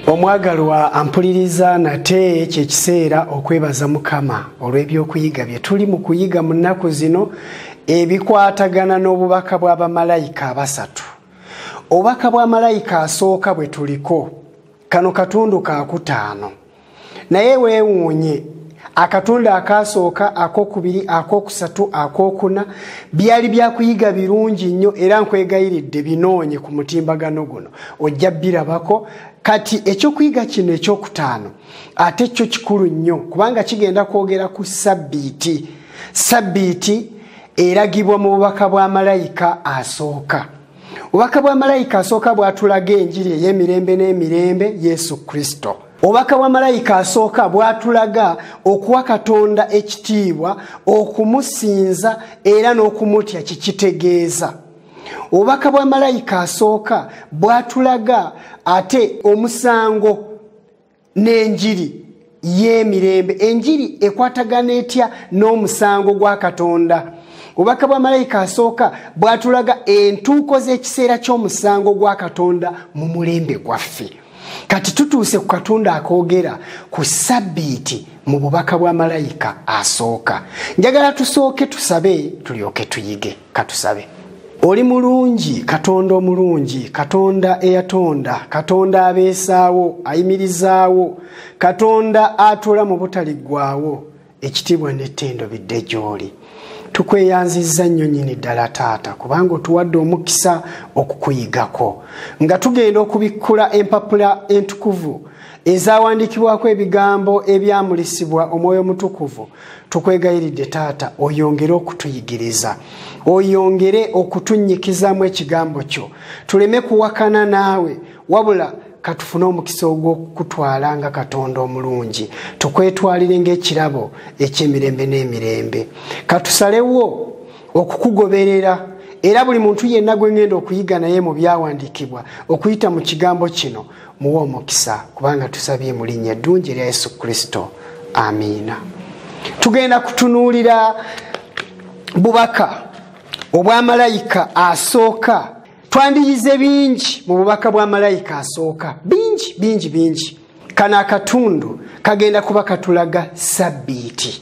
omwagalwa ampuliriza nate kyekiseera okwebaza mukama olw'ebyokuyiga bye tuli mu kuyiga mu nnaku zino ebikwatagana n'obubaka bwa bamalayika abasatu obubaka bwa malayika asooka bwe tuliko kano katundu kakutaano naye weewuunye akatundu akaasooka akokubiri akokusatu akokuna byali byakuyiga birungi nnyo era nkwegayiridde binoonye ku mutimbagano guno ojja birabako kati ekyokuyiga kino ekyokutaano ate kyo kikulu nnyo kubanga kigenda kwogera ku sabbiiti sabbiiti eragibwa mu bubaka bwa malayika asooka obubaka bwa malayika asooka bwatulaga enjiri ey'emirembe n'emirembe yesu kristo obubaka bwa malayika asooka bwatulaga okuwa katonda ekitiibwa okumusinza era n'okumutya kikitegeeza obubaka bwa malayika asooka bwatulaga ate omusango n'enjiri y'emirembe enjiri ekwatagana etya n'omusango gwa katonda obubaka bwa malayika asooka bwatulaga entuuko z'ekiseera ky'omusango gwa katonda mu mulembe gwaffe kati tutuuse ku katonda akoogera ku sabbiiti mu bubaka bwa malayika asooka njagala tusooke tusabe tulyoke tuyige katusabe oli mulungi katonda omulungi katonda eyatonda katonda abeesaawo ayimirizaawo katonda atuula mu butaliggwawo ekitiibwa n'ettendo bidde gy'oli tukweyanzizza nnyo nyini ddala taata kubanga otuwadde omukisa okukuyigako nga tugenda okubikkula empapula entukuvu ezawandiikibwako ebigambo ebyamulisibwa omwoyo omutukuvu tukwegayiridde taata oyongere okutuyigiriza oyongere okutunyikizaamu ekigambo kyo tuleme kuwakana naawe wabula katufune omukisa ogw'okukutwala nga katonda omulungi tukwetwalire ngaekirabo ekyemirembe n'emirembe katusalewo okukugoberera era buli muntu yenna gwe ngenda okuyiga naye mu byawandiikibwa okuyita mu kigambo kino muwe omukisa kubanga tusabye mu linnya eddungi erya yesu kristo amiina tugenda kutunuulira bubaka obwa malayika asooka twandiyize bingi mu bubaka bwa malayika asooka bingi bingi bingi kano akatundu kagenda kuba katulaga sabbiiti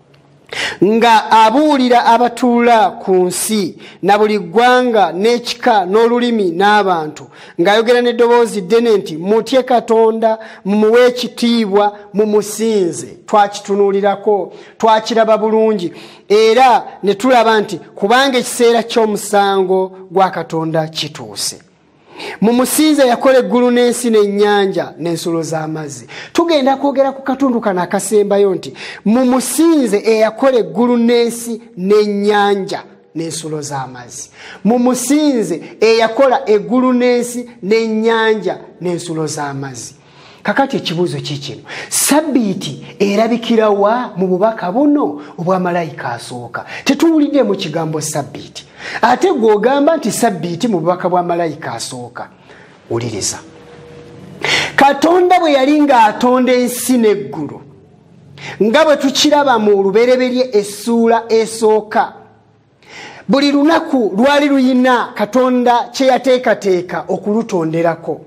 nga abuulira abatuula ku nsi na buli ggwanga n'ekika n'olulimi n'abantu ng'ayogera n'eddoboozi ddene nti mutye katonda mumuwe ekitiibwa mumusinze twakitunuulirako twakiraba bulungi era ne tulaba nti kubanga ekiseera ky'omusango gwa katonda kituuse mu musinza yakola eggulu n'ensi n'ennyanja n'ensulo z'amazzi tugenda kwogera ku katundu kano akasembayo nti mu musinze eyakola eggulu n'ensi n'ennyanja n'ensulo z'amazzi mu musinze eyakola eggulu n'ensi n'ennyanja n'ensulo z'amazzi kakati ekibuuzo kikino sabiiti erabikirawa mu bubaka buno obwa malayika asooka tetuwuliddemu kigambo sabiiti ate gweogamba nti sabiiti mu bubaka bwa malayika asooka wuliriza katonda bwe yali ng'atonda ensi n'eggulu nga bwe tukiraba mu lubereberye essuula esooka buli lunaku lwali luyina katonda kyeyateekateeka okulutonderako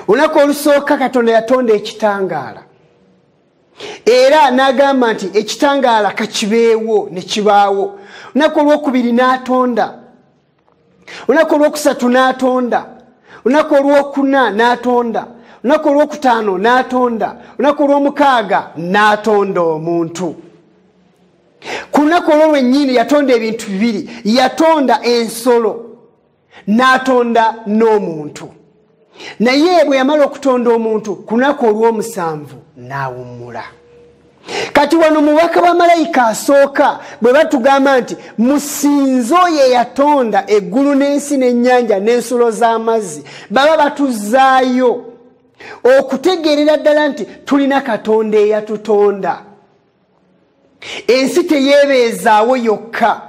olunaku olusooka katonda yatonda ekitangaala era n'agamba nti ekitangaala kakibeewo ne kibaawo olunaku olwokubiri n'atonda olunaku olwokusatu n'atonda olunaku olwokuna n'atonda olunaku olwokutaano n'atonda olunaku olwomukaaga n'atonda omuntu ku lunaku olwo lwennyini yatonda ebintu bibiri yatonda ensolo n'atonda n'omuntu naye bwe yamala okutonda omuntu ku lunaku olw'omusanvu n'awummula kati wano mubaka wa malayika asooka bwe batugamba nti musinze oyo eyatonda eggulu n'ensi n'ennyanja n'ensulo z'amazzi baba batuzaayo okutegeerera ddala nti tulina katonda eyatutonda ensi teyeebeezaawo yokka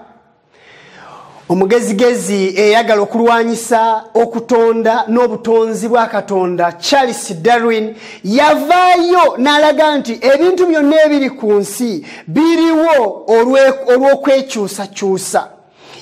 omugezigezi eyagala okulwanyisa okutonda n'obutonzi bwa katonda charles darwin yavaayo n'alaga nti ebintu byonna ebiri ku nsi biriwo olw'okwekyusakyusa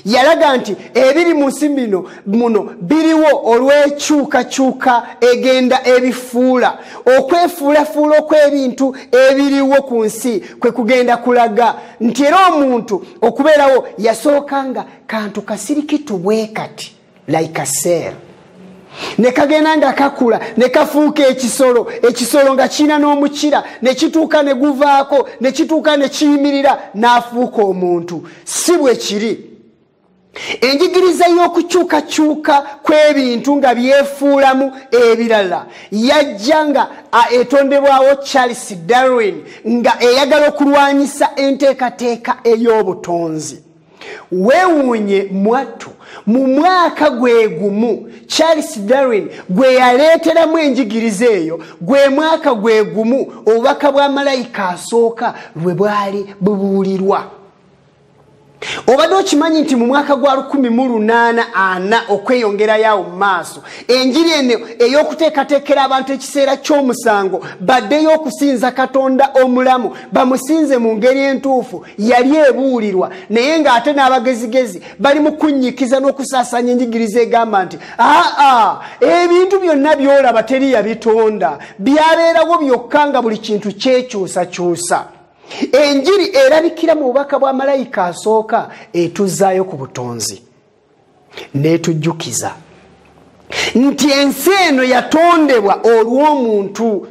yalaga nti ebiri mu nsi bino muno biriwo olw'ekyukakyuka egenda ebifuula okwefuulafuula okw'ebintu ebiriwo ku nsi kwe kugenda kulaga nti era omuntu okubeerawo yasooka nga kantu kasirikitu bwe kati like aser nekagenda nga kakula nekafuuka ekisolo ekisolo nga kiina n'omukira nekituuka neguvaako nekituuka nekiyimirira n'afuuka omuntu si bwe kiri enjigiriza y'okukyukakyuka kw'ebintu nga byefuulamu ebirala yajja nga etondebwawo charles darwin nga eyagala okulwanyisa enteekateeka ey'obutonzi weewuunye mwattu mu mwaka gwe gumu charles darwin gwe yaleeteramu enjigiriza eyo gwe mwaka gwe gumu obubaka bwa malayika asooka lwe bwali bubuulirwa obadde okimanyi nti mu mwaka gwa 1844 okweyongerayo awo mu maaso enjiri eno ey'okuteekateekera abantu ekiseera ky'omusango baddeyo okusinza katonda omulamu bamusinze mu ngeri entuufu yali ebuulirwa naye ng'ate n'abagezigezi bali mu kunnyikiza n'okusaasanya enjigiriza egamba nti aa ebintu byonna byolaba teri yabitonda byabeerawo byokka nga buli kintu kyekyusakyusa enjiri erabikira mu bubaka bwa malayika asooka etuzaayo ku butonzi netujjukiza nti ensi eno yatondebwa olw'omuntu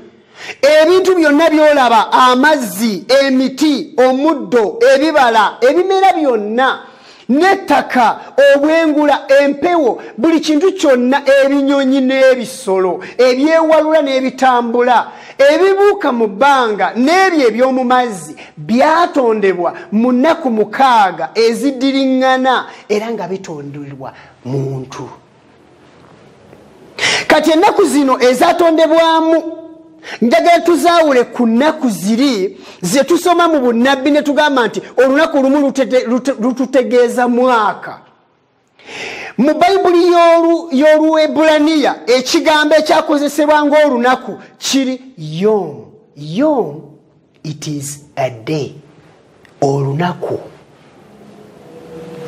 ebintu byonna byolaba amazzi emiti omuddo ebibala ebimera byonna n'ettaka obwengula empewo buli kintu kyonna ebinyonyi n'ebisolo ebyewalula n'ebitambula ebibuuka mu bbanga n'ebyo eby'omu mazzi byatondebwa mu nnaku mukaaga ezidiriŋŋana era nga bitondulwa muntu kati ennaku zino ezatondebwamu njagala tuzaawule ku nnaku ziri ze tusoma mu bunnabbi ne tugamba nti olunaku olumu lututegeeza mwaka mu bayibuli y'oluebulaniya ekigambo ekyakozesebwa ng'olunaku kiri yom yom it is a day olunaku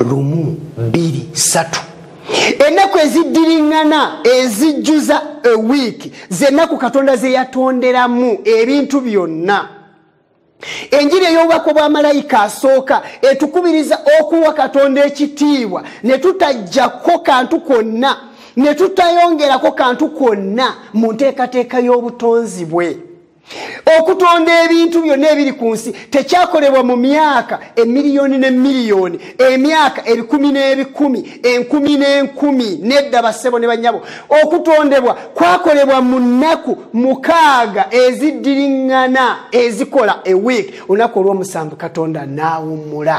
lumu biri satu ennaku eziddiriŋŋana ezijjuza ewiiki zennaku katonda ze yatonderamu ebintu byonna enjiri ey'obubaka obwamalayika asooka etukubiriza okuwa katonda ekitiibwa ne tutajjako kantu kwonna ne tutayongerako kantu kwonna mu nteekateeka y'obutonzi bwe okutonda ebintu byonna ebiri ku nsi tekyakolebwa mu myaka emiliyoni ne miliyoni emyaka ebikumi n'ebikumi enkumi n'enkumi nedda bassebo ne bannyabo okutondebwa kwakolebwa mu nnaku mukaaga eziddiriŋŋana ezikola ewiiki olunaku olw'omusanvu katonda n'awummula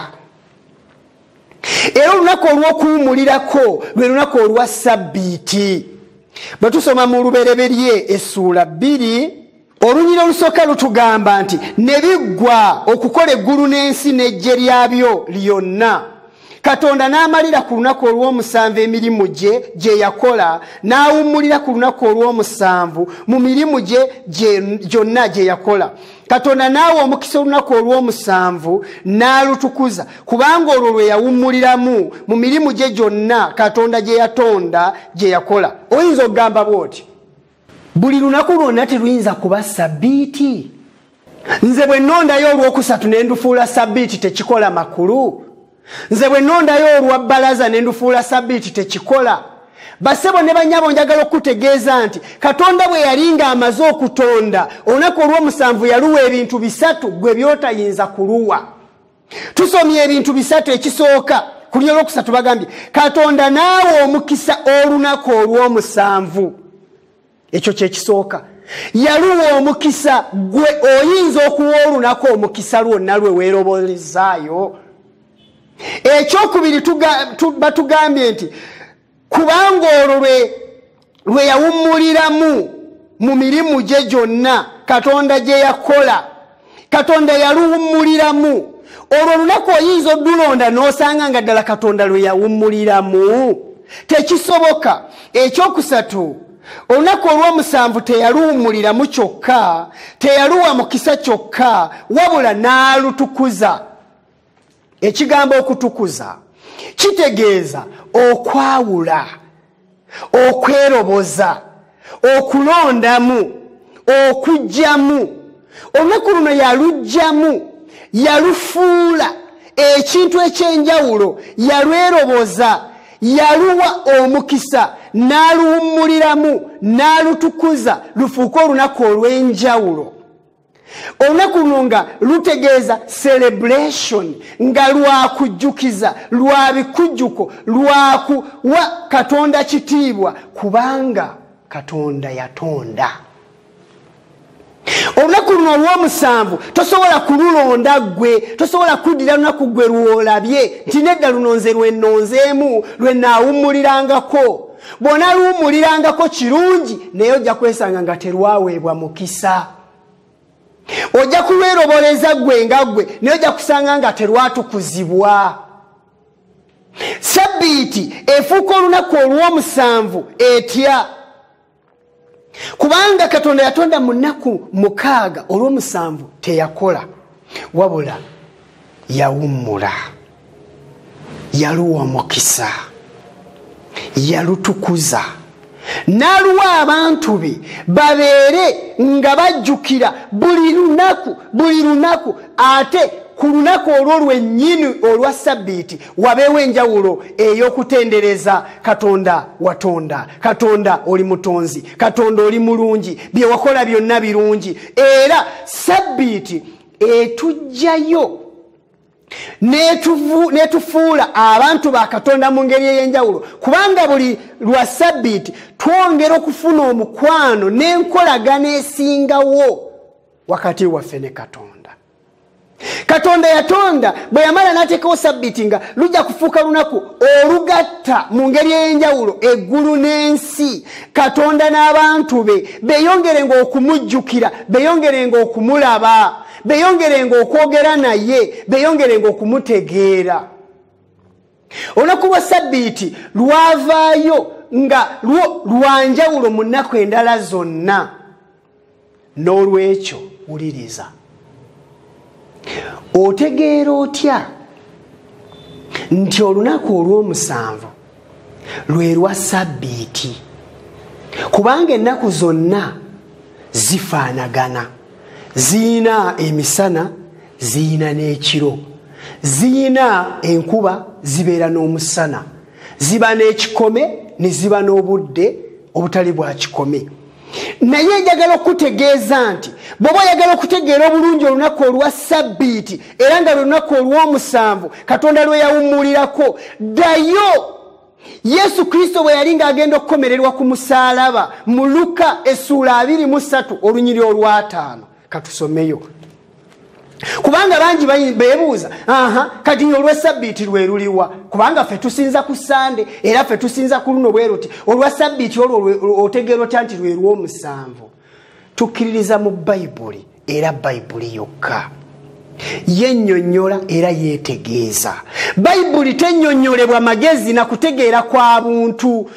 era olunaku olw'okuwumulirako lwe lunaku olwa sabbiiti bwe tusoma mu lubereberye essuula bbiri olunyira olusooka lutugamba nti ne biggwa okukola eggulu n'ensi n'ejje lyabyo lyonna katonda n'amalira ku lunaku olw'omusanvu emirimu gye gye yakola n'awummulira ku lunaku olw'omusanvu mu mirimu gye gyonna gye yakola katonda naawe omukisa olunaku olw'omusanvu n'alutukuza kubanga olwo lwe yawummuliramu mu mirimu gye gyonna katonda gye yatonda gye yakola oyinza okugamba bw'oti buli lunaku lwonna teruyinza kuba sabbiiti nze bwe nnondayo olw'okusatu ne ndufuula sabbiiti tekikola makulu nze bwe nondayo olwa bbalaza ne ndufuula sabiiti tekikola basebo ne banyabo njagala okukutegeeza nti katonda bwe yali ng'amaze okutonda olunaku olw'omusanvu yaluwa ebintu bisatu gwe byotayinza kuluwa tusomye ebintu bisatu ekisooka ku lyo olwokusatu bagambye katonda naawe omukisa olunaku olw'omusanvu ekyo kyekisooka yaluwa omukisa gwe oyinza okuwa olunaku omukisa lwonna lwe weerobolezaayo ekyokubiri batugambye nti kubanga olwo lwe yawummuliramu mu mirimu gye gyonna katonda gye yakola katonda yaluwummuliramu olwo olunaku oyinza odulonda n'osanga nga ddala katonda lwe yawummuliramu tekisoboka ekyokusatu olunaku olw'omusanvu teyaluwummuliramu kyokka teyaluwa mukisa kyokka wabula n'alutukuza ekigambo okutukuza kitegeeza okwawula okweroboza okulondamu okugyamu olunaku luno yalugyamu yalufuula ekintu ekyenjawulo yalweroboza yaluwa omukisa n'aluwummuliramu n'alutukuza lufuuke olunaku olw'enjawulo olunaku luno nga lutegeeza celebration nga lwakujjukiza lwa bikujjuko lwakuwa katonda kitiibwa kubanga katonda yatonda olunaku luno olwomusanvu tosobola kululonda gwe tosobola kuddira lunaku gwe lwolabye nti nedda luno nze lwenonzeemu lwenaawummulirangako bw'onaluwummulirangako kirungi naye ojja kwesanga nga terwaweebwa mukisa ojja kulweroboleza ggwe nga ggwe naye ojja kusanga nga terwatukuzibwa sabbiiti efuuka olunaku olw'omusanvu etya kubanga katonda yatonda mu nnaku mukaaga olw'omusanvu teyakola wabula yawummula yaluwa omukisa yalutukuza n'aluwa abantu be babeere nga bajjukira buli lunaku buli lunaku ate ku lunaku olwo lwennyini olwa sabbiiti wabeewo enjawulo ey'okutendereza katonda watonda katonda oli mutonzi katonda oli mulungi bye wakola byonna birungi era sabbiiti etujjayo netufuula abantu ba katonda mu ngeri ey'enjawulo kubanga buli lwa sabbiiti twongera okufuna omukwano n'enkolagana esingawo wakati waffe ne katonda katonda yatonda bwe yamala n'ateekawo sabbiti nga lujja kufuuka lunaku olugatta mu ngeri ey'enjawulo eggulu n'ensi katonda n'abantu be beeyongerenga okumujjukira beeyongerenga okumulaba beeyongerenga okwogera naye beeyongerenga okumutegeera olunaku lwa sabbiti lwavaayo nga lwo lwanjawulo mu nnaku endala zonna n'olwekyo wuliriza otegeera otya nti olunaku olw'omusanvu lwe lwa sabbiiti kubanga ennaku zonna zifaanagana ziyina emisana ziyina n'ekiro ziyina enkuba zibeera n'omusana ziba n'ekikome ne ziba n'obudde obutali bwa kikome naye njagala okukutegeeza nti bweoba oyagala okutegeera obulungi olunaku olwa sabbiiti era nga lwelunaku olw'omusanvu katonda lwe yawummulirako ddayo yesu kristo bwe yali ng'agenda okukomererwa ku musaalaba mu luka essuula 23 olunyiri olwataano katusomeyo kubanga bangi bebuuza aha kati nyo olwesabbiiti lweruliwa kubanga fe tusinza ku sande era fe tusinza ku luno bwe ruti olwa sabbiiti olwo otegeera otya nti lwerwomusanvu tukkiririza mu bayibuli era bayibuli yokka yenyonyola era yetegeeza bayibuli tenyonyolebwa magezi na kutegeera kwa buntu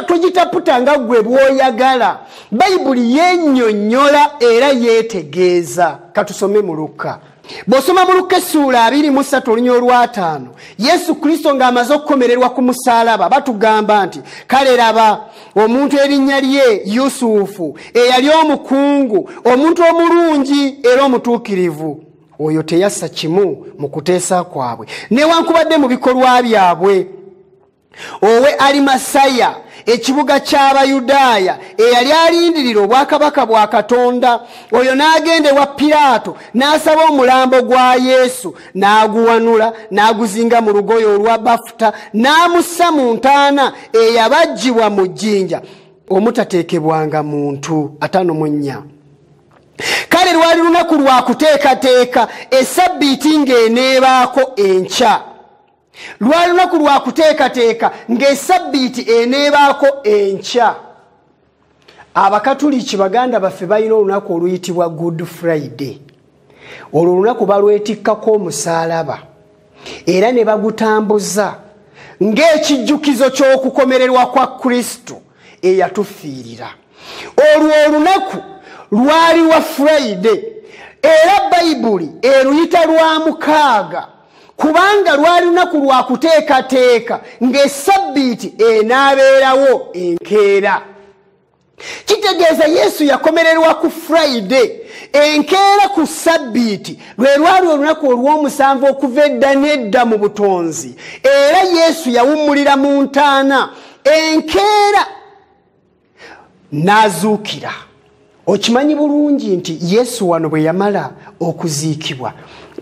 togitaputa nga gwe bwoyagala bayibuli yenyonyola era yetegeeza katusome mu lukka bw'osoma mu lukka essuula abiri mu ssatu olunya olwataano yesu kristo ng'amaze okukomererwa ku musaalaba batugamba nti kale laba omuntu erinnya lye yusufu eyali omukungu omuntu omulungi era omutuukirivu oyo teyassa kimu mu kuteesa kwabwe newankubadde mu bikolwa byabwe owe alimasaya ekibuga ky'abayudaaya eyali alindirira obwakabaka bwa katonda oyo n'agenda ewa piraato n'asaba omulambo gwa yesu n'aguwanula n'aguzinga mu lugoye olwa bafuta n'amussa mu ntaana eyabajjibwa mu jjinja omutateekebwanga muntu atano mu nnya kale lwali lunaku lwa kuteekateeka esabbiiti ng'eneebaako enkya lwali lunaku lwa kuteekateeka ng'esabbiiti eneebaako enkya abakatuliki baganda baffe balina olunaku oluyitibwa good friday olwo olunaku balwetikkako omusaalaba era ne bagutambuza ng'ekijjukizo ky'okukomererwa kwa kristo eyatufiirira olwo olunaku lwali wa friday era bayibuli eruyita lwa mukaaga kubanga lwali lunaku lwa kuteekateeka ng'esabbiiti enaabeerawo enkeera kitegeeza yesu yakomererwa ku friday enkeera ku sabbiiti lwe lwali olunaku olw'omusanvu okuva edda n'edda mu butonzi era yesu yawummulira mu ntaana enkeera n'azuukira okimanyi bulungi nti yesu wano bwe yamala okuziikibwa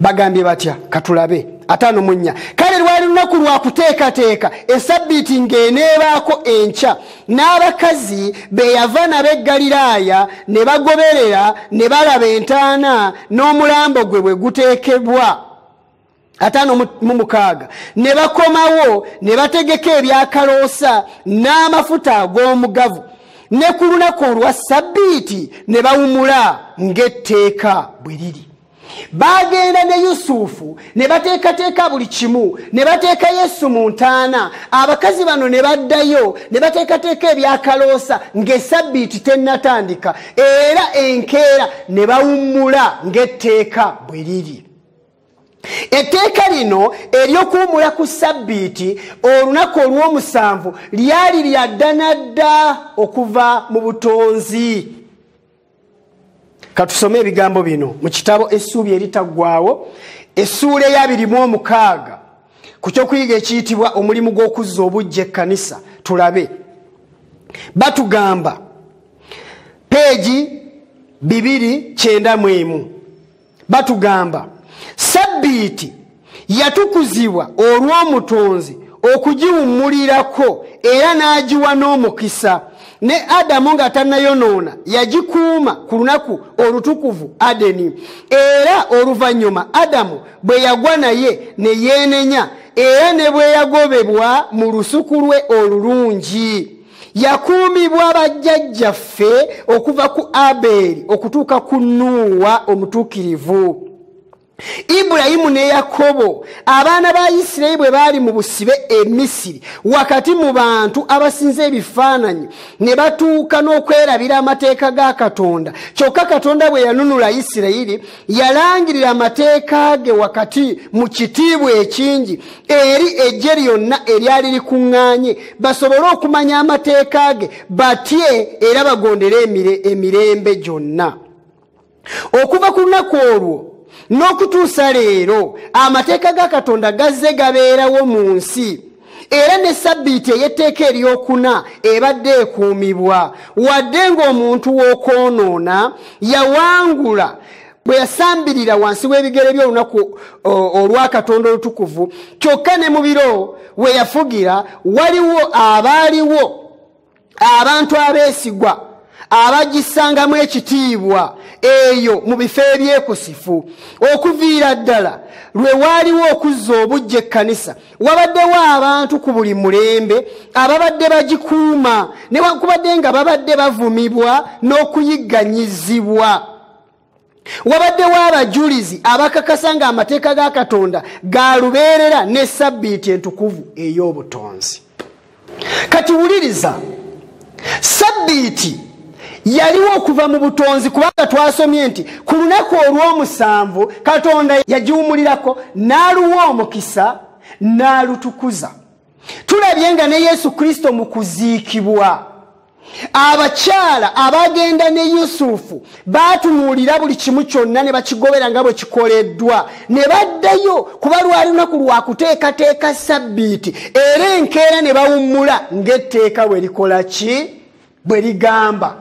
bagambye batya katulabe ataano mu nnya kale lwali lunaku lwa kuteekateeka esabbiiti ng'eneebaako enkya n'abakazi be yava nabo e ggaliraaya ne bagoberera ne balaba entaana n'omulambo gwe bwe guteekebwa ataano mu mukaaga ne bakomawo ne bategeka ebyakaloosa n'amafuta ag'omugavu ne ku lunaku olwa ssabbiiti ne bawumula ng'etteeka bwe liri bagenda ne yusufu ne bateekateeka buli kimu ne bateeka yesu mu ntaana abakazi bano ne baddayo ne bateekateeka ebyakaloosa ng'esabbiiti tennatandika era enkeera ne bawummula ng'etteeka bwe liri etteeka lino ery'okuwumula ku ssabbiiti olunaku olw'omusanvu lyali lya ddanadda okuva mu butonzi katusome ebigambo bino mu kitabo essuubi eritaggwawo essuula eyabirimu omukaaga ku kyokuyiga ekiyitibwa omulimu gw'okuzza obujja ekkanisa tulabe batugamba peegi bibiri kyenda mu emu batugamba sabbiiti yatukuzibwa olw'omutonzi okugiwummulirako era n'agiwa n'omukisa ne adamu nga tannayonoona yagikuuma ku lunaku olutukuvu adeni era oluvannyuma adamu bwe yagwa naye ne yeenenya era ne bwe yagobebwa mu lusuku lwe olulungi yakuumibwa bajjajjaffe okuva ku abeeri okutuuka ku nuuwa omutuukirivu ibulayimu ne yakobo abaana ba isirayiri bwe baali mu busibe e misiri wakati mu bantu abasinza ebifaananyi ne batuuka n'okwerabira amateeka ga katonda kyokka katonda bwe yanunula isirayiri yalangirira amateeka ge wakati mu kitiibwa ekingi eri eggye lyonna eryali likuŋŋaanye basobole okumanya amateeka ge batye era bagondere emirembe gyonna okuva ku lunaku olwo n'okutuusa leero amateeka ga katonda gazze gabeerawo mu nsi era ne sabbiiti ey'etteeka eryokuna ebadde ekuumibwa wadde ng'omuntu w'okwonoona yawangula bwe yasambirira wansi w'ebigere by'olunaku olwa katonda olutukuvu kyokka ne mu biro we yafugira waliwo abaaliwo abantu abeesigwa abagisangamu ekitiibwa eyo mu bifo ebyekusifu okuviira ddala lwe waaliwo okuzza obujja ekkanisa wabaddewo abantu ku buli mulembe ababadde bagikuuma newankubadde nga babadde bavumibwa n'okuyigganyizibwa wabaddewo abajulizi abakakasa nga amateeka ga katonda galubeerera ne sabbiiti entukuvu ey'obutonzi kati wuliriza sabbiiti yaliwo okuva mu butonzi kubanga twasomye nti ku lunaku olw'omusanvu katonda yagiwumulirako n'aluwa omukisa n'alutukuza tulabye nga ne yesu kristo mu kuziikibwa abakyala abagenda ne yusufu baatunuulira buli kimu kyonna ne bakigobera nga bwe kikoleddwa ne baddayo kuba lwali lunaku lwa kuteekateeka sabbiiti era enkeera ne bawummula ng'etteeka bwe likola ki bwe ligamba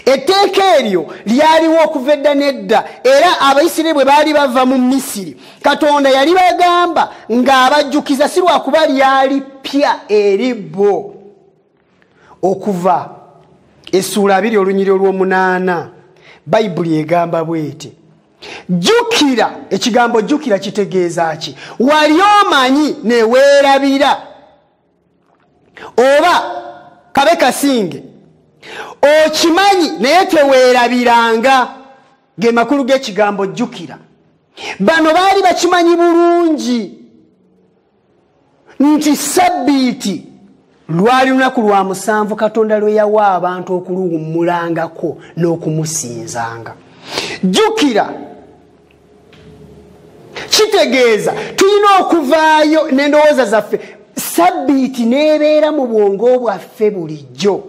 etteeka eryo lyaliwo okuva edda n'edda era abaisiraeri bwe baali bava mu misiri katonda yali bagamba ng'abajjukiza si lwakuba lyali ppya eri bo okuva essuula abiri olunyiri olw'omunaana bayibuli egamba bweti jjukira ekigambo jjukira kitegeeza ki wali omanyi neweerabira oba kabe kasinge okimanyi naye teweerabiranga ge makulu g'ekigambo jjukira bano baali bakimanyi bulungi nti sabbiiti lwali lunaku lwa musanvu katonda lwe yawa abantu okuluwummulangako n'okumusinzanga jjukira kitegeeza tulina okuvaayo n'endowooza zaffe sabbiiti n'ebeera mu bwongo bwaffe bulijjo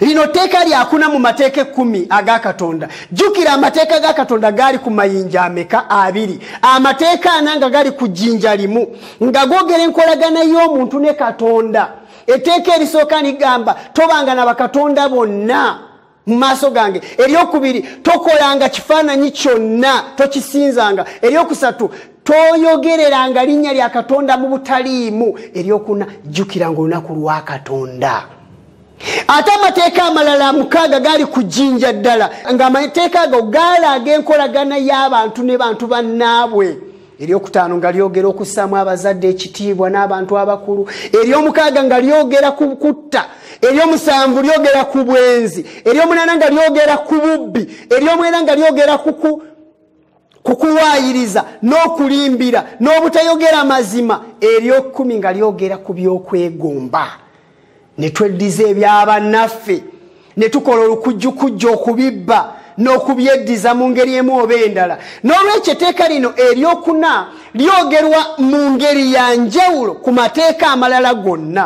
lino tteeka lyakuna mu mateeka ekkumi aga katonda jjukira amateeka ga katonda gaali ku mayinja ameka abiri amateeka ana nga gali ku jjinja limu nga gogera enkolagana y'omuntu ne katonda etteeka erisooka ligamba tobanga na bakatonda bonna mu maaso gange eryokubiri tokolanga kifaananyi kyonna tokisinzanga eryokusatu toyogereranga linnya lya katonda mu butaliimu eryokuna jjukiranga olunaku lwa katonda ate amateeka amalala mukaaga gaali ku jjinja ddala ng'amateeka ago gaalaaga enkolagana y'abantu ne bantu bannaabwe eryokutaano nga lyogera okussaamu abazadde ekitiibwa n'abantu abakulu eryomukaaga nga lyogera ku kutta eryomusanvu lyogera ku bwenzi eryomunaana nga lyogera ku bubbi eryomwena nga lyogera ku kukuwaayiriza n'okulimbira n'obutayogera mazima eryokumi nga lyogera ku byokwegomba ne tweddiza ebyabannaffe ne tukola olukujjukujja okubibba n'okubyeddiza mu ngeri emu oba endala n'olwekyo eteeka lino eryokuna lyogerwa mu ngeri ya njawulo ku mateeka amalala gonna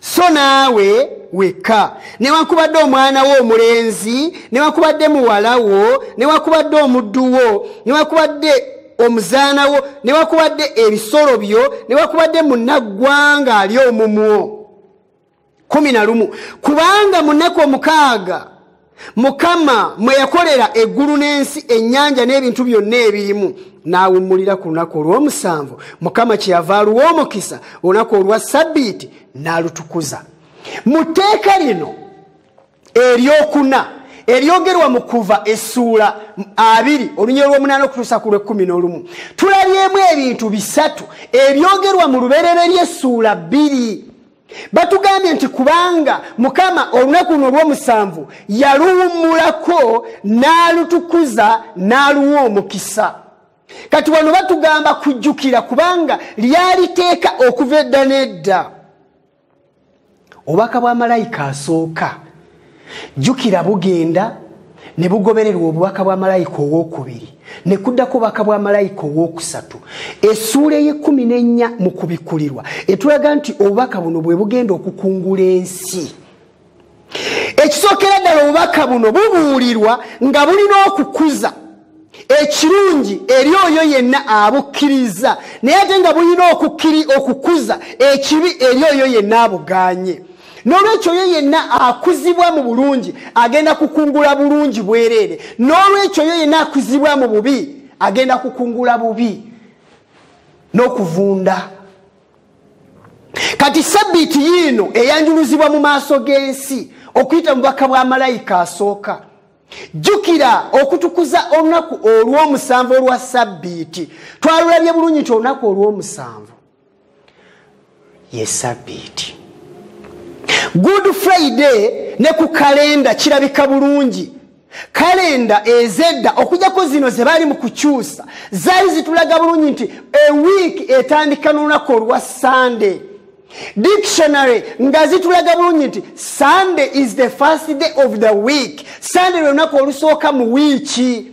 so naawe wekka newankubadde omwana wo omulenzi newankubadde muwala wo newankubadde omuddu wo newankubadde omuzaana wo newankubadde ebisolo byo newankubadde munaggwanga ali omumwo kumi na lumu kubanga mu nnaku omukaaga mukama mwe yakolera eggulu n'ensi ennyanja n'ebintu byonna ebirimu n'awummulira ku lunaku olw'omusanvu mukama kyeyava aluwa omukisa olunaku olwa sabbiiti n'alutukuza mu tteeka lino eryokuna eryogerwa mu kuva essuula abiri olunya olw'omunaana okutuusa ku lw'ekkumi n'olumu tulabyemu ebintu bisatu ebyogerwa mu lubereberye essuula bbiri batugambye nti kubanga mukama olunaku luno olwomusanvu yaluwummulako n'alutukuza n'aluwa omukisa kati wano batugamba kujjukira kubanga lyaliteeka okuva edda n'edda obubaka bwa malayika asooka jjukira bugenda ne bugobererwa obubaka bwa malayika owokubiri ne kuddako obubaka bwa malayika owokusatu esuula eyekumi n'ennya mu kubikkulirwa etulaga nti obubaka buno bwe bugenda okukungula ensi ekisookera ddala obubaka buno bubuulirwa nga bulina okukuza ekirungi eri oyo yenna abukkiriza naye ate nga bulina okukiri okukuza ekibi eri oyo yenna abuganye n'olwekyo oyo yenna akuzibwa mu bulungi agenda kukungula bulungi bwereere n'olwekyo oyo yenna akuzibwa mu bubi agenda kukungula bubi n'okuvunda kati sabbiiti yiino eyanjuluzibwa mu maaso g'ensi okuyita mubaka bwa malayika asooka jjukira okutukuza olunaku olw'omusanvu olwa sabbiiti twalulabye bulungi nti olunaku olw'omusanvu ye sabbiiti good friday ne ku kalenda kirabika bulungi kalenda ezedda okujjako zino ze baali mu kukyusa zaali zitulaga bulungi nti ewiiki etandika n'olunaku olwa sande dictionary nga zitulaga bulungi nti sunday is the first day of the week sunday lwe lunaku olusooka mu wiiki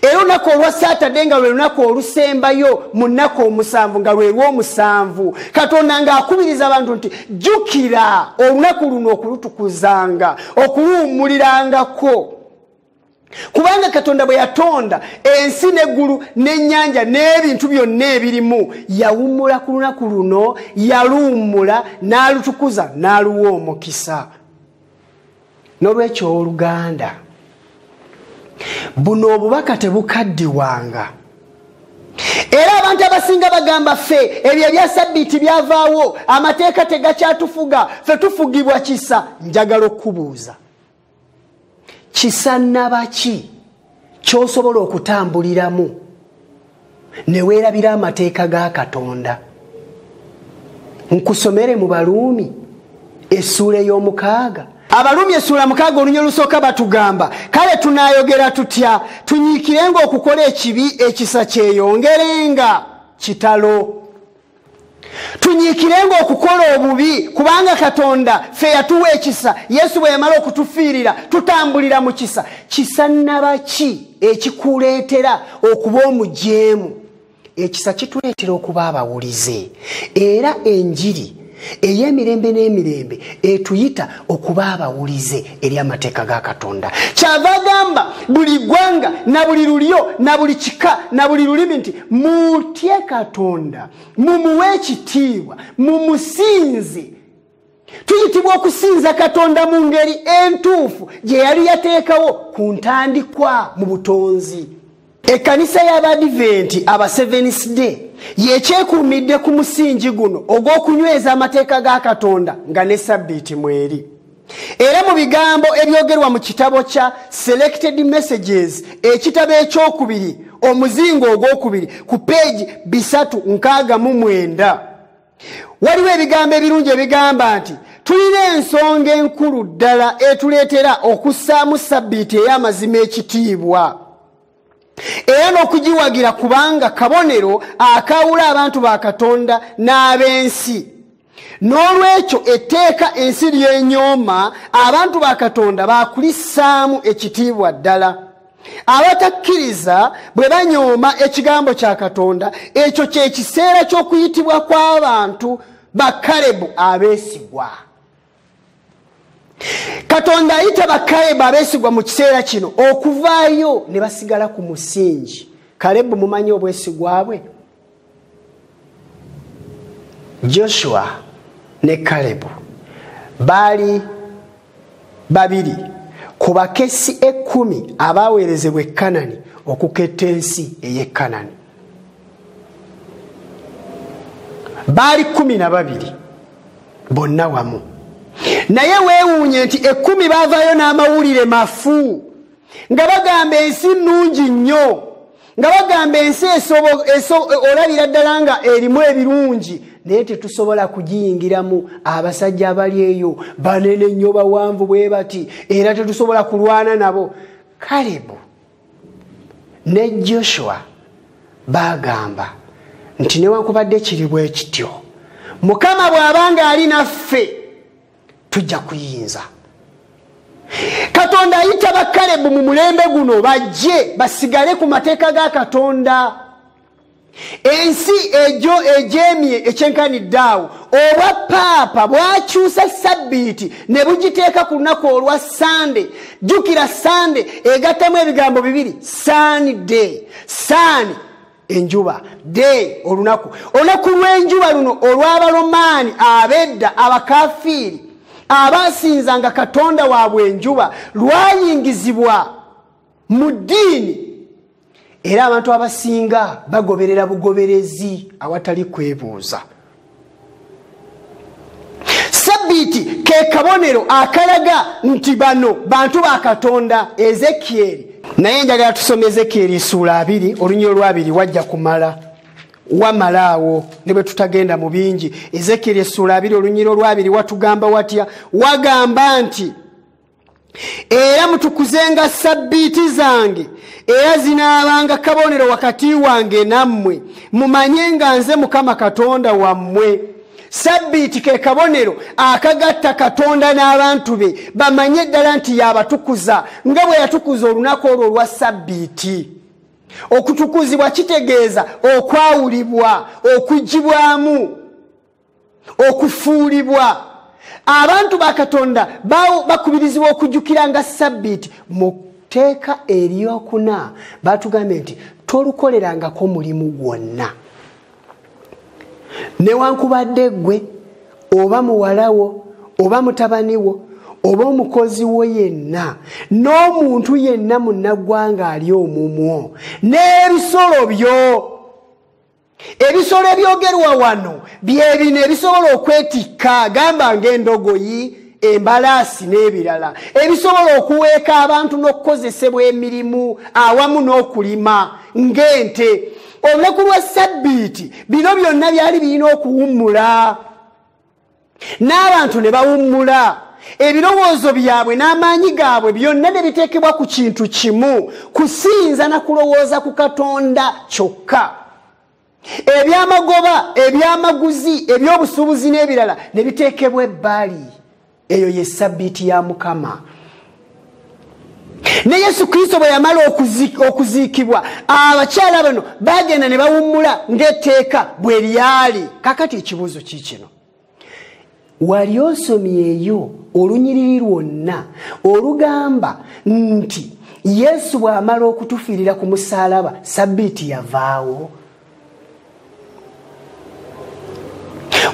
era olunaku olwa saturday nga lwe lunaku olusembayo mu nnaku omusanvu nga lwelwomusanvu katonda ng'akubiriza abantu nti jjukira olunaku luno okulutukuzanga okuluwummulirangako kubanga katonda bwe yatonda ensi n'eggulu n'ennyanja n'ebintu byonna ebirimu yawummula ku lunaku luno yaluwummula n'alutukuza n'aluwa omukisa n'olwekyo owoluganda buno obubaka tebukaddiwanga era abantu abasinga bagamba ffe ebyo ebya sabbiiti byavaawo amateeka tegakyatufuga fe tufugibwa kisa njagala okukubuuza kisannabaki kyosobola okutambuliramu neweerabira amateeka ga katonda nkusomere mu baluumi essuula ey'omukaaga abalumi essuula mukaaga oluny olusooka batugamba kale tunaayogera tutya tunyiikirenga okukola ekibi ekisa kyeyoongerenga kitalo tunyiikirenga okukola obubi kubanga katonda ffe yatuwa ekisa yesu bwe yamala okutufiirira tutambulira mu kisa kisa naba ki ekikuleetera okuba omujeemu ekisa kituleetera okuba abawulize era enjiri ey'emirembe n'emirembe etuyita okuba abawulize eri amateeka ga katonda kyava agamba buli ggwanga na buli lulyo na buli kika na buli lulimi nti mutye katonda mumuwe ekitiibwa mumusinze tuyitibwa okusinza katonda mu ngeri entuufu gye yali yateekawo ku ntandikwa mu butonzi ekkanisa y'abadiventi aba sevenis day yekyekuumidde ku musingi guno ogw'okunyweza amateeka ga katonda nga ne sabbiiti mweri era mu bigambo ebyogerwa mu kitabo kya selected messages ekitabo ekyokubiri omuzingo ogwokubiri ku peegi bisatu nkaaga mu mwenda waliwo ebigambo ebirungi ebigamba nti tulina ensonga enkulu ddala etuleetera okussaamu sabbiiti ey'amazima ekitiibwa era n'okugiwagira kubanga kabonero akaawula abantu ba katonda n'ab'ensi n'olwekyo etteeka ensi ly'enyooma abantu ba katonda baakulissaamu ekitiibwa ddala abatakkiriza bwe banyooma ekigambo kya katonda ekyo kyekiseera ky'okuyitibwa kw'abantu bakalebu abeesigwa katonda ayita bakalebu abeesigwa mu kiseera kino okuvaayo ne basigala ku musingi kalebu mumanyi obwesigwa bwe joshua ne kalebu baali babiri ku bakesi ekkumi abaaweerezebwa ekanani okuketta ensi ey'ekanani baali kumi na babiri bonna wamu naye weewuunye nti ekkumi baavaayo n'amawulire mafu nga bagamba ensi nnungi nnyo nga bagamba ensi olabira ddala nga erimu ebirungi naye tetusobola kugiyingiramu abasajja abali eyo banene nnyo bawanvu bwe bati era tetusobola kulwana nabo kalebu ne joshua bagamba nti newankubadde kiri bwekityo mukama bw'aba ng'ali naffe tujja kuyinza katonda ayita bakalebu mu mulembe guno bajje basigale ku mateeka ga katonda ensi egyo egyemye ekyenkanidde awo obwa paapa bwakyusa sabbiiti ne bugiteeka ku lunaku olwa sande jjukira sande egattamu ebigambo bibiri sande sande enjuba day olunaku olunaku lw'enjuba luno olw'abalomaani abedda abakafiiri abaasinzanga katonda waabwe enjuba lwayingizibwa mu ddiini era abantu abasinga bagoberera bugoberezi awatali kwebuuza sabbiiti ke kabonero akalaga nti bano bantu ba katonda ezekieri naye njagala tusoma ezekieri isuula abiri olunya olwabiri wajja kumala wamalaawo ne bwe tutagenda mu bingi ezekieri esuula abiri olunyira olwabiri watugamba watya wagamba nti era mutukuzenga sabbiiti zange era zinaabanga kabonero wakati wange nammwe mumanye nga nze mukama katonda wammwe sabbiiti ke kabonero akagatta katonda n'abantu be bamanye eddala nti yaabatukuza nga bwe yatukuza olunaku olwo olwa sabbiiti okutukuzibwa kitegeeza okwawulibwa okugibwamu okufuulibwa abantu ba katonda bakubirizibwa okujjukira nga sabbiiti mu tteeka eryokuna batugambye nti tolukolerangako mulimu gwonna newankubadde gwe oba muwalawo oba mutabaniwo oba omukozi wo yenna n'omuntu yenna munnaggwanga ali omumwo n'ebisolo byo ebisolo ebyogerwa wano byebino ebisobola okwetikka gamba ngaendogoyi embalaasi n'ebirala ebisobola okuweeka abantu n'okukozesebwa emirimu awamu n'okulima ng'ente olunaku lwa sabbiiti bino byonna byali birina okuwummula n'abantu ne bawummula ebirowoozo byabwe n'amaanyi gaabwe byonna ne biteekebwa ku kintu kimu kusinza na kulowooza ku katonda kyokka ebyamagoba ebyamaguzi ebyobusuubuzi n'ebirala ne biteekebwa ebbali eyo ye sabbiiti ya mukama ne yesu kristo bwe yamala okuziikibwa abakyala bano bagenda ne bawummula ng'etteeka bwe lyali kakati ekibuuzo kiikino wali osomyeyo olunyiriri lwonna olugamba nti yesu bw'amala okutufiirira ku musaalaba sabbiiti yavaawo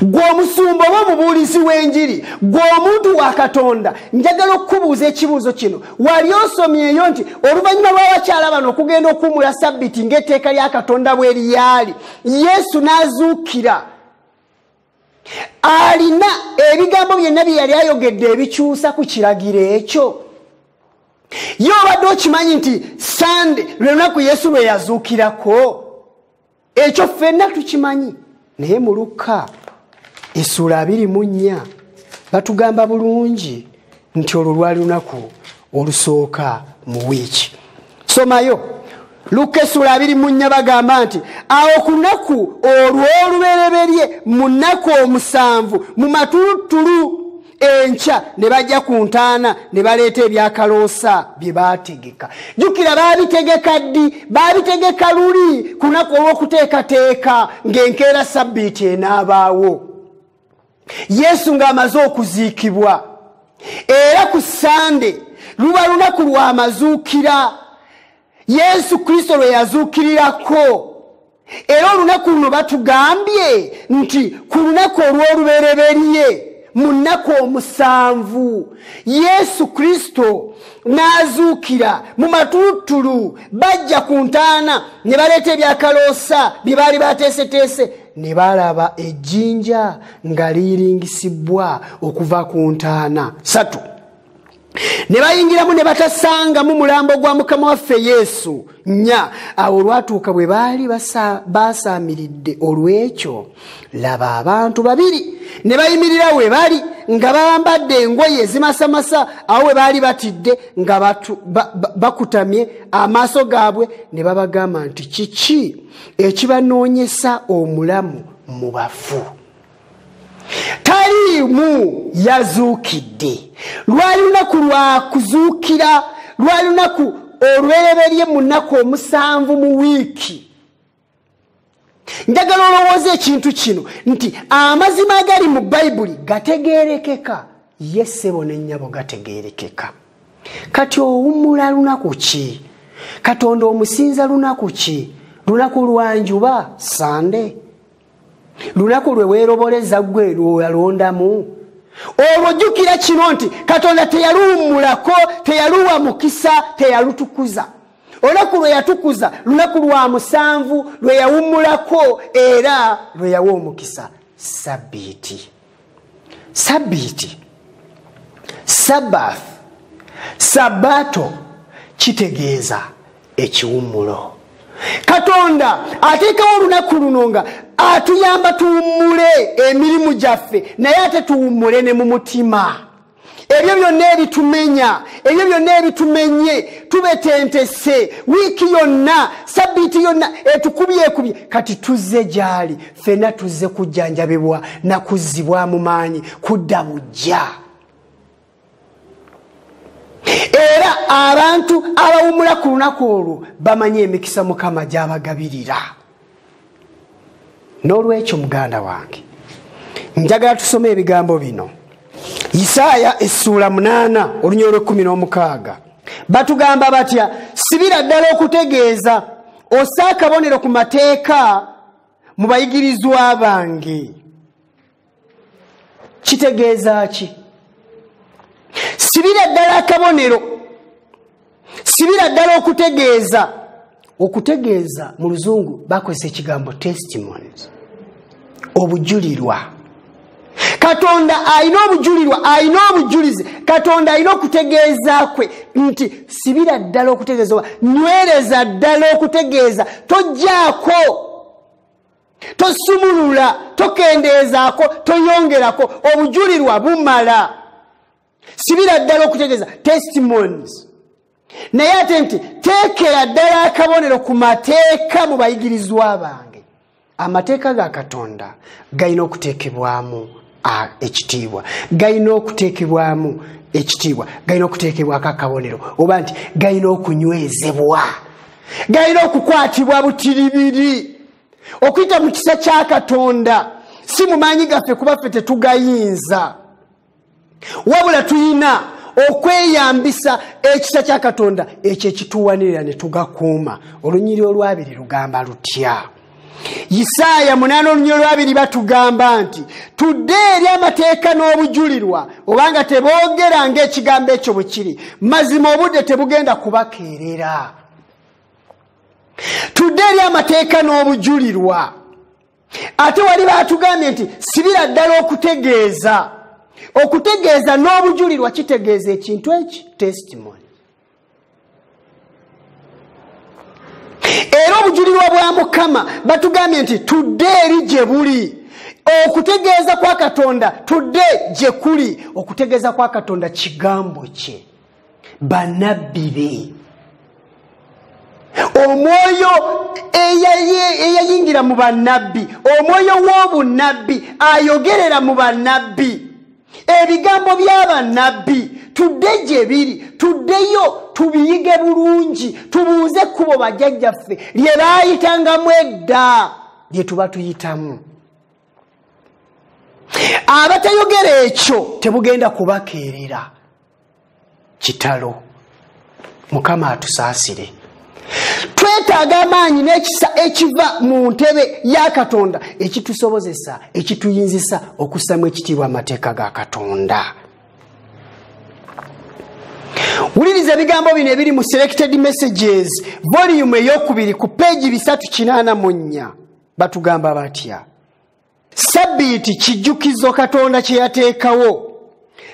gwe omusumba oba omubuulizi w'enjiri gwe omuntu wa katonda njagala okukubuuza ekibuuzo kino wali osomyeyo nti oluvannyuma lw'abakyala bano okugenda okuwumula sabbiti ng'etteeka lya katonda bwe liyaali yesu n'azuukira alina ebigambo byonna bye yali ayogedde ebikyusa ku kiragiro ekyo ye obadde okimanyi nti sande lwe lunaku yesu lwe yazuukirako ekyo ffenna tukimanyi naye mu lukka esuula abiri mu nnya batugamba bulungi nti olwo lwali lunaku olusooka mu wiiki somayo lukka essula abiri mu nnya bagamba nti awo ku lunaku olw'olubereberye mu nnaku omusanvu mu matuluttulu enkya ne bajja ku ntaana ne baleeta ebyakaloosa bye baategeka jjukira baabitegeka ddi baabitegeka luli ku lunaku olw'okuteekateeka ng'enkeera sabbiiti enaabaawo yesu ng'amaze okuziikibwa era ku sande luba lunaku lw'amazuukira yesu kristo lwe yazuukirirako era olunaku luno batugambye nti ku lunaku olw'olubereberye mu nnaku omusanvu yesu kristo n'azuukira mu matulutulu bajja ku ntaana ne baleeta ebyakaloosa bye baali bateeseteese ne baalaba ejjinja nga liyiringisibbwa okuva ku ntaana satu ne bayingiramu ne batasangamu mulambo gwa mukama waffe yesu nya awo olwatuuka bwe baali baasaamiridde olw'ekyo laba abantu babiri ne bayimirira we bali nga bambadde engoye ezimasamasa awo we baali batidde nga bakutamye amaaso gaabwe ne babagamba nti kiki ekibanoonyesa omulamu mu bafu taliimu yazuukidde lwali lunaku lwa kuzuukira lwali lunaku olwereberye mu nnaku omusanvu mu wiiki njagala olowooza ekintu kino nti amazima agali mu bayibuli gategerekeka ye ssebo ne nnyabo gategeerekeka kati owummula lunaku ki katonda omusinza lunaku ki lunaku lwanjuba sande lunaku lwe weeroboleza ggwe lwoyalondamu olwo jjukira kino nti katonda teyaluwummulako teyaluwa mukisa teyalutukuza olunaku lwe yatukuza lunaku lwa musanvu lwe yawummulako era lwe yawa omukisa sabbiiti sabiiti sabath sabato kitegeeza ekiwummulo katonda ateekawo olunaku luno nga atuyamba tuwummule emirimu gyaffe naye ate tuwummule ne mu mutima ebyo byonna ebitumenya ebyo byonna ebitumenye tubetentese wiiki yonna sabbiiti yonna etukubyekubye kati tuzze gyali fena tuzze kujjanjabibwa nakuzzibwamu maanyi kudda bujja era abantu abawumula ku lunaku olwo bamanyi emikisa mukama gyabagabirira n'olwekyo muganda wange njagala tusome ebigambo bino isaaya essuula munaana olunya olwekumi n'omukaaga batugamba batya sibira ddala okutegeeza osa akabonero ku mateeka mu bayigirizwa bange kitegeeza ki sibira ddala akabonero sibira ddala okutegeeza okutegeeza mu luzungu bakozesa ekigambo testimonies obujulirwa katonda alina obujulirwa alina obujulizi katonda alina okutegeeza kwe nti sibira ddala okutegeeza oba nywereza ddala okutegeeza tojjaako tosumulula tokendeezaako toyongerako obujulirwa bumala sibira ddala okutegeeza testimonies naye ate nti teekera ddala akabonero ku mateeka mu bayigirizwa bange amateeka ga katonda galina okuteekebwamu ekitiibwa galina okuteekebwamu ekitiibwa galina okuteekebwako akabonero oba nti galina okunywezebwa galina okukwatibwa butiribiri okuyita mu kisa kya katonda si mu maanyi gaffe kuba ffe tetugayinza wabula tulina okweyambisa ekisa kya katonda ekyo ekituwanirira ne tugakuuma olunyiri olwabiri lugamba lutya isaaya munaana olunya olwabiri batugamba nti tudde eri amateeka n'obujulirwa obanga teboogera ngaekigambo ekyo bwe kiri mazima obudde tebugenda kubakeerera tudde eri amateeka n'obujulirwa ate wali baatugambye nti sibira ddala okutegeeza okutegeeza n'obujulirwa kitegeeza ekintu eki testimony era obujulirwa bwa mukama batugambye nti tudde eri gye buli okutegeeza kwa katonda tudde gye kuli okutegeeza kwa katonda kigambo kye banabbi be omwoyo eyayingira mu banabbi omwoyo w'obunabbi ayogerera mu banabbi ebigambo by'abannabbi tudde gye biri tuddeyo tubiyige bulungi tubuuze ekkubo bajjajjaffe lye baayitangamu edda lye tuba tuyitamu abatayogera ekyo tebugenda kubakeerera kitalo mukama atusaasire twetaaga amaanyi n'ekisa ekiva mu ntebe ya katonda ekitusobozesa ekituyinzisa okussamu ekitiibwa amateeka ga katonda wuliriza ebigambo bino ebiri mu selected messages voliyumu eyokubiri ku peegi bisatu kinaana mu nnya batugamba batya sabbiiti kijjukizo katonda kye yateekawo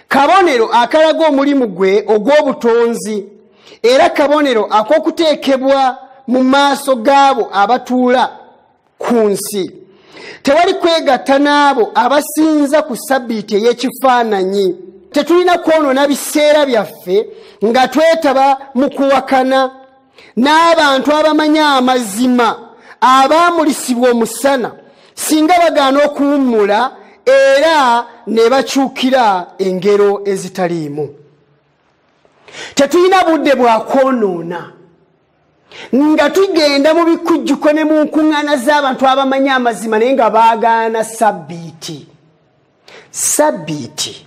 kabonero akalaga omulimu gwe ogw'obutonzi era kabonero ak'okuteekebwa mu maaso gaabo abatuula ku nsi tewali kwegatta n'abo abasinza ku sabbiiti ey'ekifaananyi tetulina kwonoona biseera byaffe nga twetaba mu kuwakana n'abantu abamanyi amazima abaamulisibwa omusana singa bagaana okuwummula era ne bakyukira engero ezitaliimu tetulina budde bwa kwonoona nga tugenda mu bikujjuko ne mu nkuŋŋaana z'abantu abamanyi amazima naye nga baagaana sabbiiti sabbiiti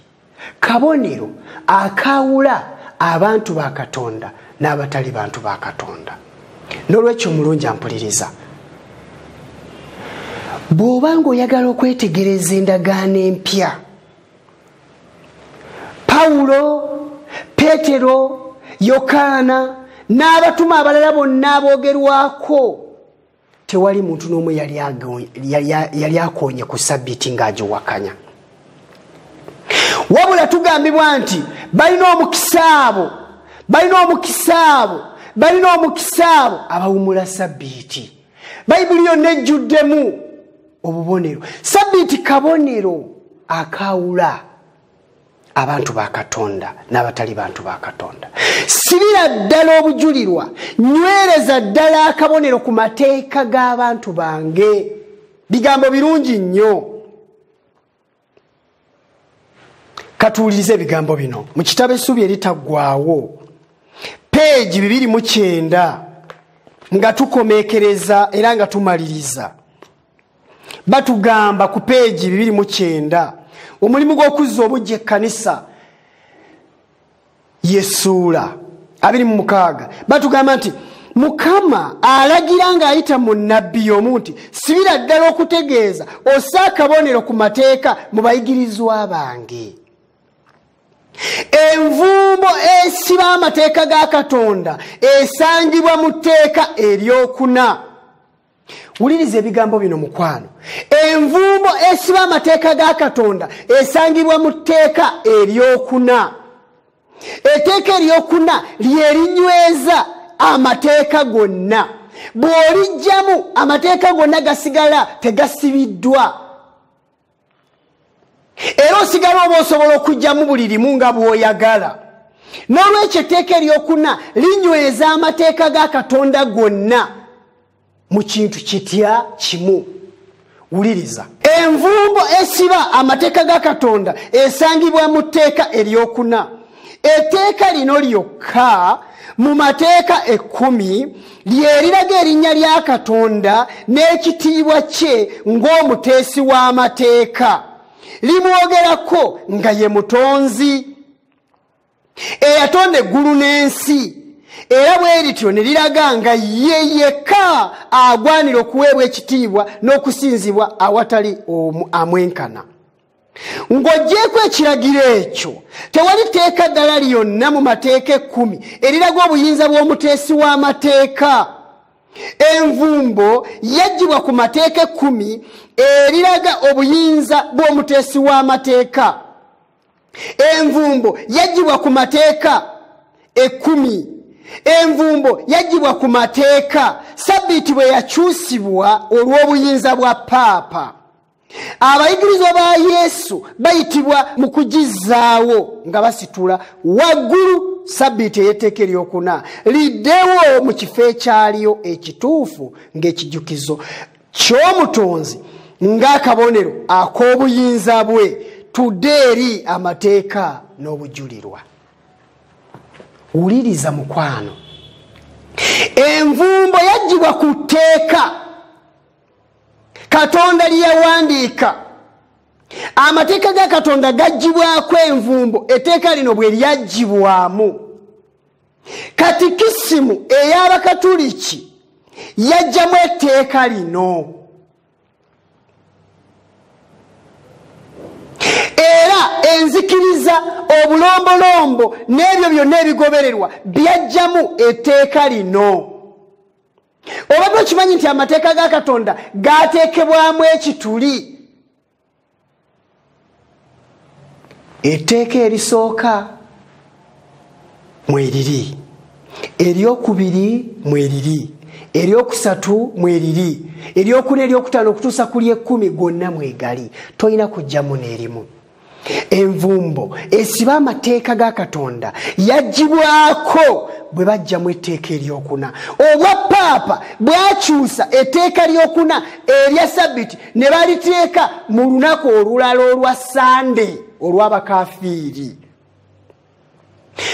kabonero akaawula abantu ba katonda n'abatali bantu ba katonda n'olwekyo omulungi ampuliriza bw'oba ng'oyagala okwetegereza endagaano empya pawulo peetero yokaana n'abatuma abalala bonna aboogerwako tewali muntu n'omu yali akonye ku sabbiti ng'agiwakanya wabula tugambibwa nti balina omukisa abo balina omukisa abo balina omukisa abo abawumula sabbiti bayibuli yonna ejjuddemu obubonero sabbiti kabonero akaawula abantu ba katonda n'abatali bantu ba katonda sibira ddala obujulirwa nywereza ddala akabonero ku mateeka g'abantu bange bigambo birungi nnyo katuwuliriza ebigambo bino mu kitabo essuubi eritaggwawo peegi bibiri mu kyenda nga tukomekereza era nga tumaliriza batugamba ku peegi bibiri mu kyenda omulimu gw'okuzza obujja ekkanisa yesuula abiri mu mukaaga batugamba nti mukama alagira ng'ayita mu nabbi y'omu nti sibira ddala okutegeeza osa akabonero ku mateeka mu bayigirizwa bange envumbo esiba amateeka ga katonda esangibwa mu tteeka eryokuna wuliriza ebigambo bino mukwano envumbo esiba amateeka ga katonda esangibwa mu tteeka eryokuna etteeka eryokuna lyerinyweza amateeka gonna bw'olijjamu amateeka gonna gasigala tegasibiddwa era osigala oba osobola okugyamu buli limu nga bw'oyagala n'olwekyo etteeka eryokuna linyweza amateeka ga katonda gonna mu kintu kitya kimu wuliriza envumbo esiba amateeka ga katonda esangibwa mu tteeka eryokuna etteeka lino lyokka mu mateeka ekkumi lyeriraga erinnya lya katonda n'ekitiibwa kye ng'omuteesi w'amateeka limwogerako nga ye mutonzi eyatonda eggulu n'ensi era bwe lityo ne liraga nga ye yekka agwanira okuweebwa ekitiibwa n'okusinzibwa awatali omu amwenkana ng'ogyeko ekiragiro ekyo tewali teeka ddala lyonna mu mateeka ekkumi eriraga obuyinza bw'omuteesi w'amateeka envumbo yaggyibwa ku mateeka ekkumi eriraga obuyinza bw'omuteesi w'amateeka envumbo yaggyibwa ku mateeka ekkumi envumbo yaggyibwa ku mateeka sabbiiti bwe yakyusibwa olw'obuyinza bwa paapa abayigirizwa ba yesu bayitibwa mu kugizzaawo nga basitula waggulu sabbiiti ey'etteeka eryokuna liddewo mu kifo ekyaliyo ekituufu ng'ekijukizo ky'omutonzi ng'akabonero ak'obuyinza bwe tudde eri amateeka n'obujulirwa wuliriza mukwano envumbo yaggyibwa ku tteeka katonda lyeyawandiika amateeka ga katonda gaggyibwako envumbo etteeka lino bwe lyaggyibwamu katikisimu ey'abakatuliki yajjamu etteeka lino era enzikiriza obulombolombo n'ebyo byonna ebigobererwa byajjamu etteeka lino obadde okimanyi nti amateeka ga katonda gateekebwamu ekituli etteeka erisooka mweriri eryokubiri mweriri eryokusatu mweriri eryokuna eryokutaano okutuusa ku lyekumi gwonna mwegali tolina kujjamu n'erimu envumbo esiba amateeka ga katonda yagibwako bwe bajjamu etteeka eryokuna obwa paapa bwakyusa etteeka lyokuna erya sabbiti ne baliteeka mu lunaku olulala olwa sande olw'abakafiiri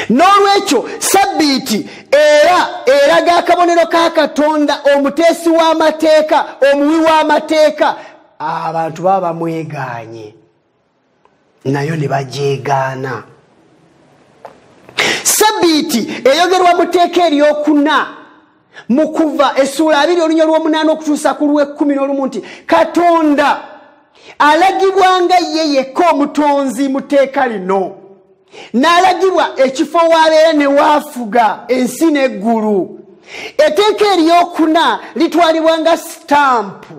n'olwekyo sabbiiti era eraga akabonero ka katonda omuteesi w'amateeka omuwi w'amateeka abantu baba bamwegaanye nayo ne bagyegaana sabbiiti eyogerwa mu teeka eryokuna mu kuva essuula abiri olunya olw'omunaana okutuusa ku lw'ekkumi n'olumu nti katonda alagibwa nga ye yekka omutonzi mu tteeka lino n'alagibwa ekifo waabeera ne waafuga ensi n'eggulu etteeka eryokuna litwalibwa nga sitampu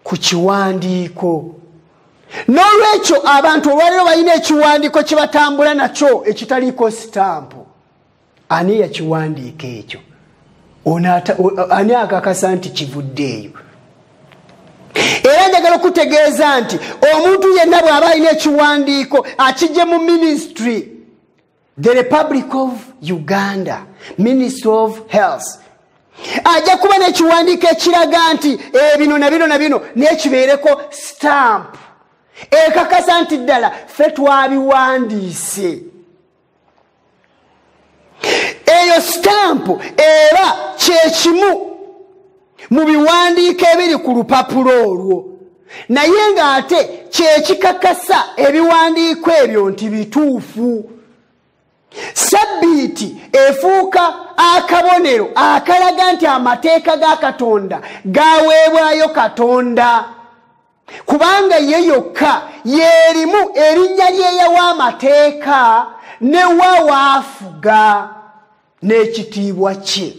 ku kiwandiiko n'olwekyo abantu olwaliro balina ekiwandiiko kye batambula nakyo ekitaliiko sitampu ani yakiwandiika ekyo ani akakasa nti kivudde eyo era njagala okutegeeza nti omuntu yenna bw'aba alina ekiwandiiko akijje mu minisitry the republic of uganda ministry of health ajja kuba nekiwandiiko ekiraga nti ebino eh, na bino na bino nekibeereko stamp ekakasa nti ddala fe twabiwandiise eyo stamp era kyekimu mu biwandiiko ebiri ku lupapula olwo naye ng'ate kyekikakasa ebiwandiiko ebyo nti bituufu sabbiiti efuuka akabonero akalaga nti amateeka ga katonda gaweebwayo katonda kubanga ye yokka yeerimu erinnya lyeyawa amateeka ne wa waafuga n'ekitiibwa kye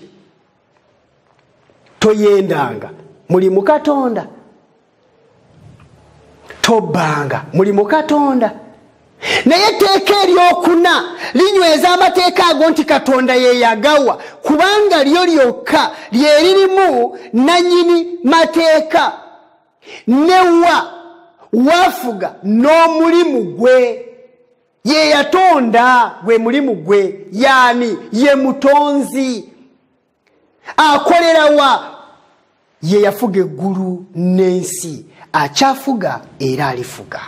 toyendanga muli mukatonda tobbanga muli mukatonda naye etteeka eryokuna linyweza amateeka ago nti katonda yeyagawa kubanga lyo lyokka lyeririmu nanyini mateeka newa wafuga n'omulimu gwe ye yatonda gwe mulimu gwe yaani ye mutonzi akolerawa ye yafuga eggulu n'ensi akyafuga era alifuga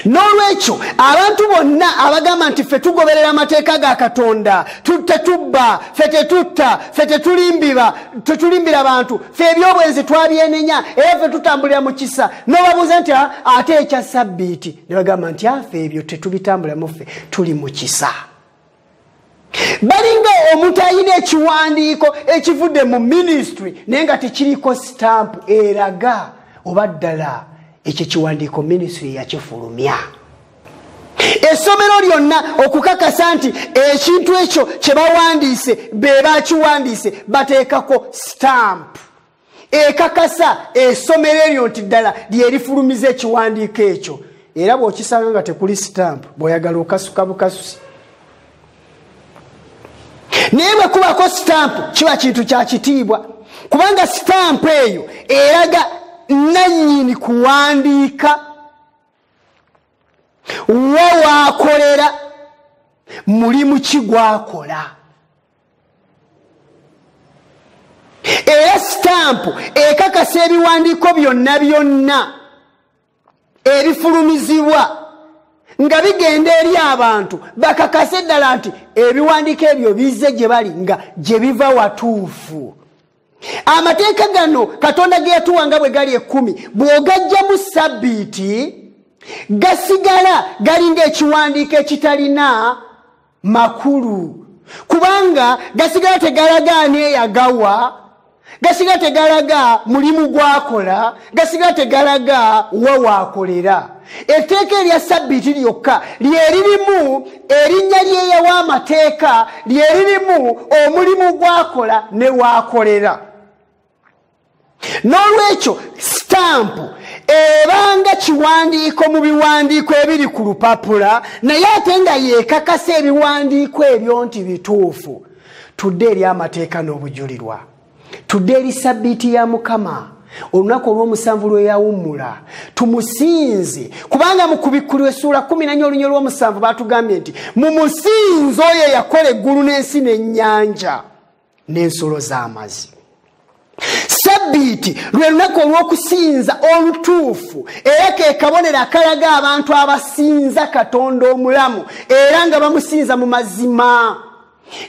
n'olwekyo abantu bonna abagamba nti ffe tugoberera amateeka ga katonda tetubba fe tetutta fe tetulimbiba tetulimbira bantu fe ebyobwenzi twabyenenya era fe tutambulira mu kisa nobabuuza nti ah, ate ekya sabbiiti ne bagamba nti afe ebyo tetubitambulamu ffe tuli mu kisa balinga omuntu alina ekiwandiiko ekivudde mu minisitule naye nga tekiriko sitampu eraga oba ddala ekyo ekiwandiiko minisitule yakifulumya essomero lyonna okukakasa nti ekintu ekyo kye bawandiise be bakiwandiise bateekako sitampu ekakasa esomero eryo nti ddala lyerifulumiza ekiwandiiko ekyo era bwokisanga nga tekuli sitampu bweoyagala okasuka bukasusi naye bwe kubako sitampu kiba kintu kya kitiibwa kubanga sitampu eyo eraga nannyini kuwandiika wa waakolera mulimu ki gwakola era sitampu ekakasa ebiwandiiko byonna byonna ebifulumizibwa nga bigenda eri abantu bakakase ddala nti ebiwandiiko ebyo bizze gye bali nga gye biva watuufu amateeka gano katonda ge yatuwa nga bwe gali ekkumi bw'ogajjamu sabbiiti gasigala galinga ekiwandiiko ekitalina makulu kubanga gasigala tegalaga ani eyagawa gasigala tegalaga mulimu gwakola gasigala tegalaga wa wakolera etteeka erya sabbiiti lyokka lyeririmu erinnya lyeyawa amateeka lyeririmu omulimu gwakola ne wakolera n'olwekyo sitampu ebanga kiwandiiko mu biwandiiko ebiri ku lupapula naye ate nga yeekakasa ebiwandiiko ebyo nti bituufu tudde eri amateeka n'obujulirwa tudde eri sabbiiti ya mukama olunaku olwomusanvu lweyawummula tumusinze kubanga mu kubikkulwa essuula kumi nanya olunyo lwomusanvu batugambye nti mumusinze oyo eyakola eggulu n'ensi n'ennyanja n'ensulo z'amazzi sabbiiti lwe lunaku olw'okusinza olutuufu era ke kabonero akalaga abantu abasinza katonda omulamu era nga bamusinza mu mazima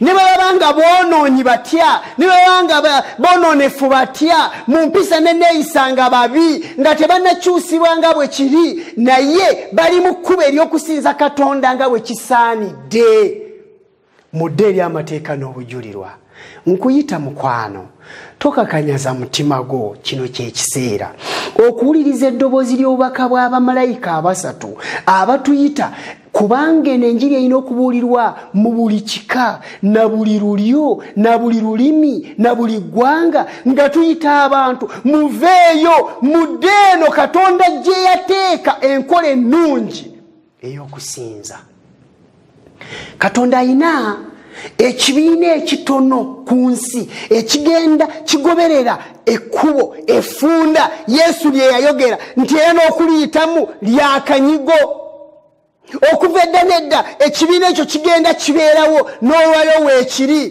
ne bwe baba nga boonoonyi batya ne bwe baba nga boonoonefu batya mu mpisa ne neeyisa nga babi nga tebanakyusibwa nga bwe kiri naye bali mu kkuba ery'okusinza katonda nga bwe kisaanidde mudde eri amateeka n'obujulirwa nkuyita mukwano tokakanyaza mutima gwo kino kyekiseera okuwuliriza eddoboozi ly'obubaka bw'abamalayika abasatu abatuyita kubanga eno enjiri erina okubuulirwa mu buli kika na buli lulyo na buli lulimi na buli ggwanga nga tuyita abantu muveeyo mudde eno katonda gye yateeka enkola ennungi eyokusinza katonda ayina ekibiina ekitono ku nsi ekigenda kigoberera ekkubo efunda yesu lye yayogera nti era n'okuliyitamu lyakanyigo okuva edda nedda ekibiina ekyo kigenda kibeerawo n'olwayo weekiri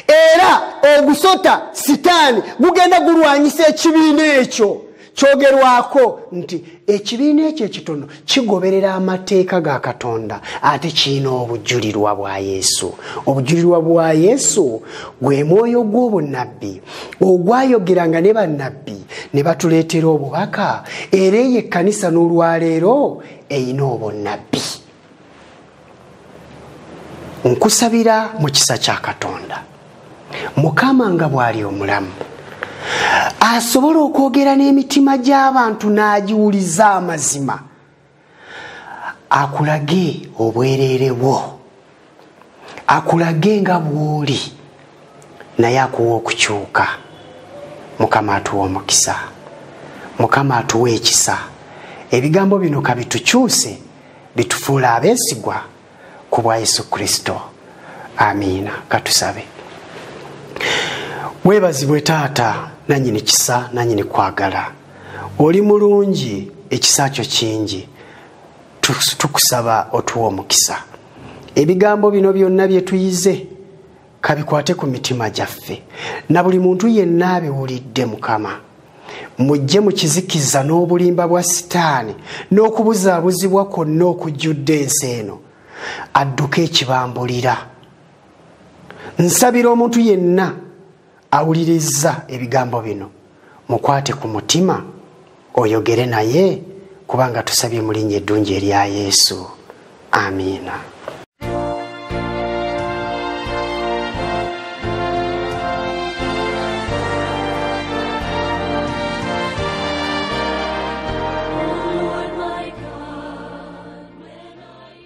era ogusota sitaani gugenda gulwanyisa ekibiina ekyo kyogerwako nti ekibiina ekyo ekitono kigoberera amateeka ga katonda ate kirina obujulirwa bwa yesu obujulirwa bwa yesu gwe mwoyo gw'obunabbi ogwayogeranga ne bannabbi ne batuleetera obubaka era eyo ekkanisa n'olwaleero erina obunnabbi nkusabira mu kisa kya katonda mukama nga bw'ali omulamu asobola okwogera n'emitima gy'abantu n'agiwuliza amazima akulage obwereere bwo akulage nga bw'oli naye akuwa okukyuka mukama atuwa omukisa mukama atuwa ekisa ebigambo bino kabitukyuse bitufuula abeesigwa ku bwa yesu kristo amiina katusabe webazibwe taata nanyini kisa nanyini kwagala oli mulungi ekisa kyo kingi tukusaba otuwa omukisa ebigambo bino byonna byetuyize kabikwate ku mitima gyaffe na buli muntu yenna abiwulidde mukama mujje mu kizikiza n'obulimba bwa sitaani n'okubuzaabuzibwa kwonna okujjudde ensi eno adduke ekibambulira nsabira omuntu yenna awulirizza ebigambo bino mukwate ku mutima oyogere naye kubanga tusabye mu linnya eddungi erya yesu amiina